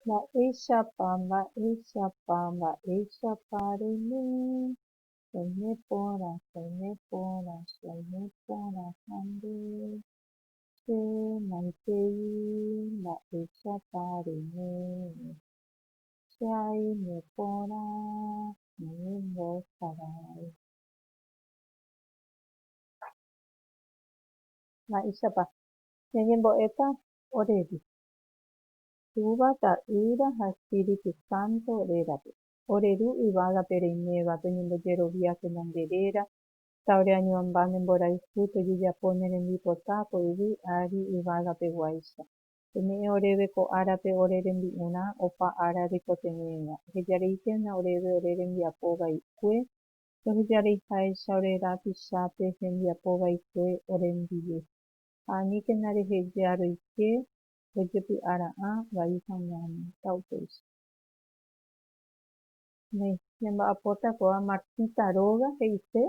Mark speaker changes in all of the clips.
Speaker 1: Mba'éichapa, mba'éichapa, mba'éichapa reime, soime porã, soime porã, soime porã ha nde, che maitei, mba'éichapa reime, che aime porã, umi mbo'eharai. Mba'éichapa, ñañembo'éta oréve, Túva, Ta'ýra ha Espíritu Santo rérape. Ore Ru yvágape reiméva, toñembojeroviákena nde réra, ta ore añuãmba ne mborayhu tojejapo ne rembipota ko yvy ári yvágape guáicha. Peme'ẽ oréve ko árape ore rembi'urã opa ára reikotevẽva. Ehejareiténa oréve ore rembiapo vaikue, tohejareiháicha ore rapichápe hembiapo vaikue ore ndive. ha aníkena rehejea roike rojepy'ara'ã vai hag̃uáme. Ta upéicha. Néi, ñamba'apóta kóva Martita róga he'ise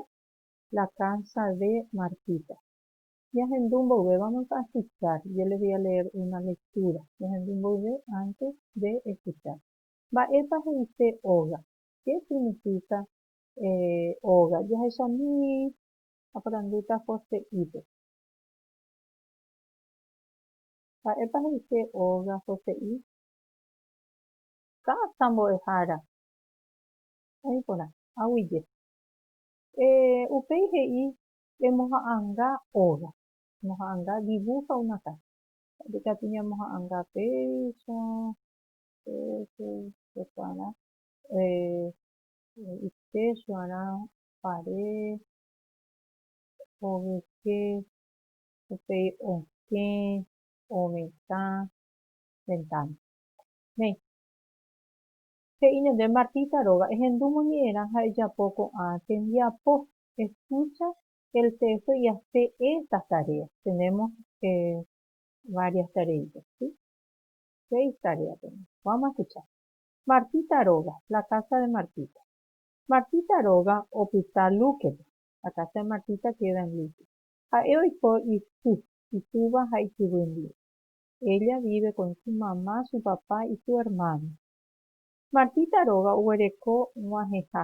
Speaker 1: La casa de Martita. Jahendu mboyve, vamos a escuchar, yo les voy a leer una lectura, jahendu mboyve antes de escuchar. Mba'épa he'ise óga? Qué significa óga? Jahechamíi, aporandúta Joséípe. Mba'épa he'ise óga hose'i? Kása mbo'ehára. Oĩ porã. Aguyje. Eh, upéi he'i, Emoha'anga óga. Emoha'anga, dibuja una casa. Mba'épa katu ñamoha'anga péicha, péicha, pecuara, eh, y techo arã, pared, ovyke, upéi okẽ, ovetã, ventána. Néi. He'i ñande Martita róga, ehendu moñe'ẽrã ha ejapo ko'ã tembiapo, escucha el texto y hace estas tareas. Tenemos varias tareitas, si? Seis tareas tenemos. Vamos a escuchar. Martita róga, la casa de Martita. Martita róga opyta lúkepe. akase Martita queda en luto. Ha'e oiko isy, itúva ha ikyvy ndive. Ella vive con su mamá, su papá y su hermano. Martita róga oguereko g̃uahẽha,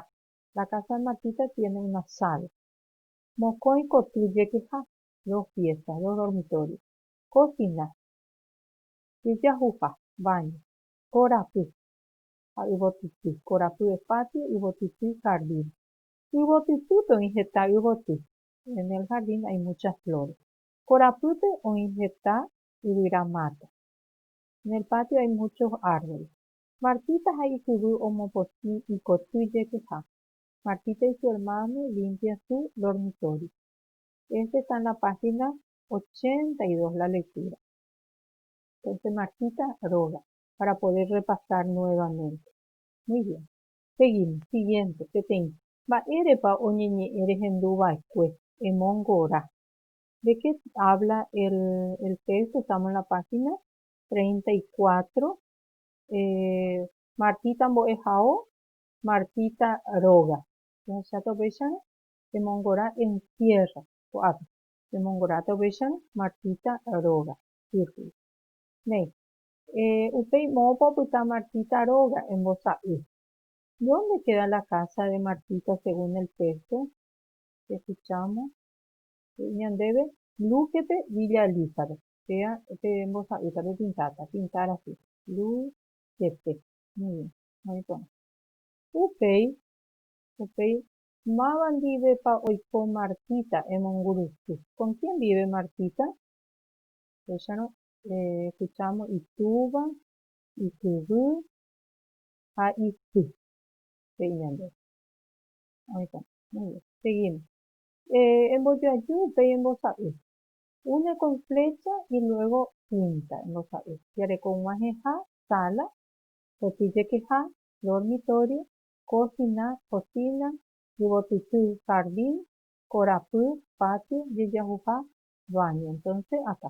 Speaker 1: la casa de Martita tiene una sala, mokõi koty jekeha, dos piezas, dos dormitorios, cocina, jejahuha, baño, korapy ha yvotypy, korapy es patio, yvotypy jardín. Yvotytýpe oĩ heta yvoty. En el jardín hay muchas flores. Korapýpe oĩ heta yvyra máta. En el patio hay muchos árboles. Martita ha ikyvy omopotĩ ikoty jekyha. Martita y su hermano limpian su dormitorio. Este está en la página ochenta y dos la lectura. Entonces Martita roga para poder repasar nuevamente. Muy bien. Seguimos. Siguiente. Peteĩ. Mba'érepa oñeñe'ẽ rehendu va'ekue. Emongora. De qué habla el, el texto, estamos en la página treinta y cuatro. Eh, Martita mbo'ehao, Martita róga. Jahecháta upéicharõ, emongora encierra, ko'ápe. Emongorata upéicharõ, Martita róga. Círculo. Néi. Eh, upéi moõpa opyta Martita róga, embosa'y. Dónde keda la kása de Martita según el téxto? Ehuchámo. He'i ñandéve, Lúkepe, Villa Elizabeth. Péa pe embosa'ýta pepintáta, pintar así, Lúkepe. Muy bien. Muy porã. Upéi, upéi, máva ndivépa oiko Martita emongurusy? Con quién vive Martita? Upéicharõ, Escuchámo itúva, ikyvy ha isy, he'i ñandéve. Oĩta. Muy bien. Seguimos. Embojoaju upéi embosa'y. Une con flecha y luego pinta, embosa'y. Jareko g̃uahẽha, sala, repillekeha, dormitorio, cocina, kosina, yvotyty, jardín, korapy, patio, jejahuha, baño. Entonces, acá.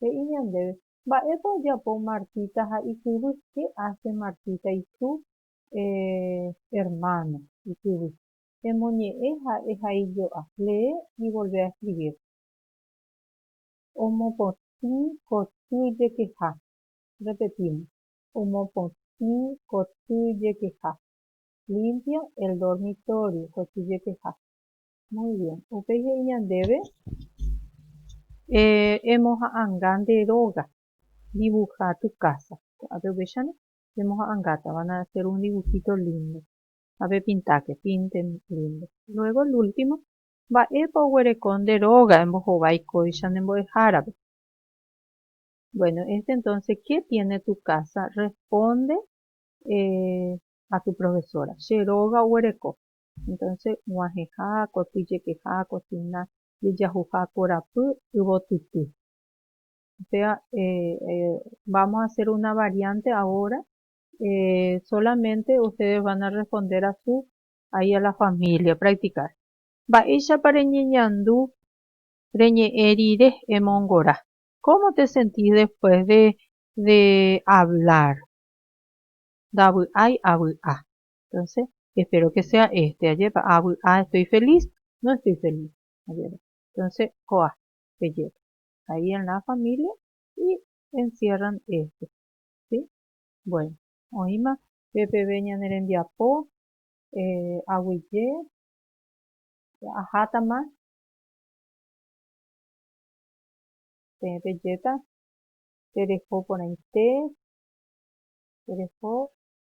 Speaker 1: He'i ñandéve, Mba'épa ojapo Martita ha ikyvy? Che ache Martita isu eh, ermáno, ikyvy. Emoñe'ẽ ha ehaijo'a, lee y volvé a escribir. Omopotĩ koty jekeha, repetimos, omopotĩ koty jekeha, limpia el dormitorio koty jekeha. Muy bien. Upéi he'i ñandéve, Eh, emoha'anga nde róga dibuja tu casa. Ko'ápe upéicharõ, pemoha'angáta, van a hacer un dibujito lindo. Ha pepintáke, pinte lindo. Luego el último, Mba'épa oguereko nde róga embohovái kóicha ne mbo'ehárape? Bueno, este entonces, ¿qué tiene tu casa? Responde, eh, a tu profesora. Che róga oguereko. Entonce g̃uahẽha, koty jekeha, kotyna, jejahuha korapy, yvotyty. Upéva vamos a hacer una variante ahora, solamente ustedes van a responder a su ahí a la familia, practicar. Mba'éichapa reñeñandu reñe'ẽ rire emongora? Cómo te sentís después de hablar? Ndavy'ái avy'a. Entonces, espero que sea este, ajépa, avy'a estoy feliz, no estoy feliz, ajépa. Entonces, ko'a, pejépa. Ahí en la familia y encierran este, ¿sí? Bueno, oĩma pe peve ñane rembiapo, eh, aguyje, ahátama, peẽ pejéta, tereho porãite, tereho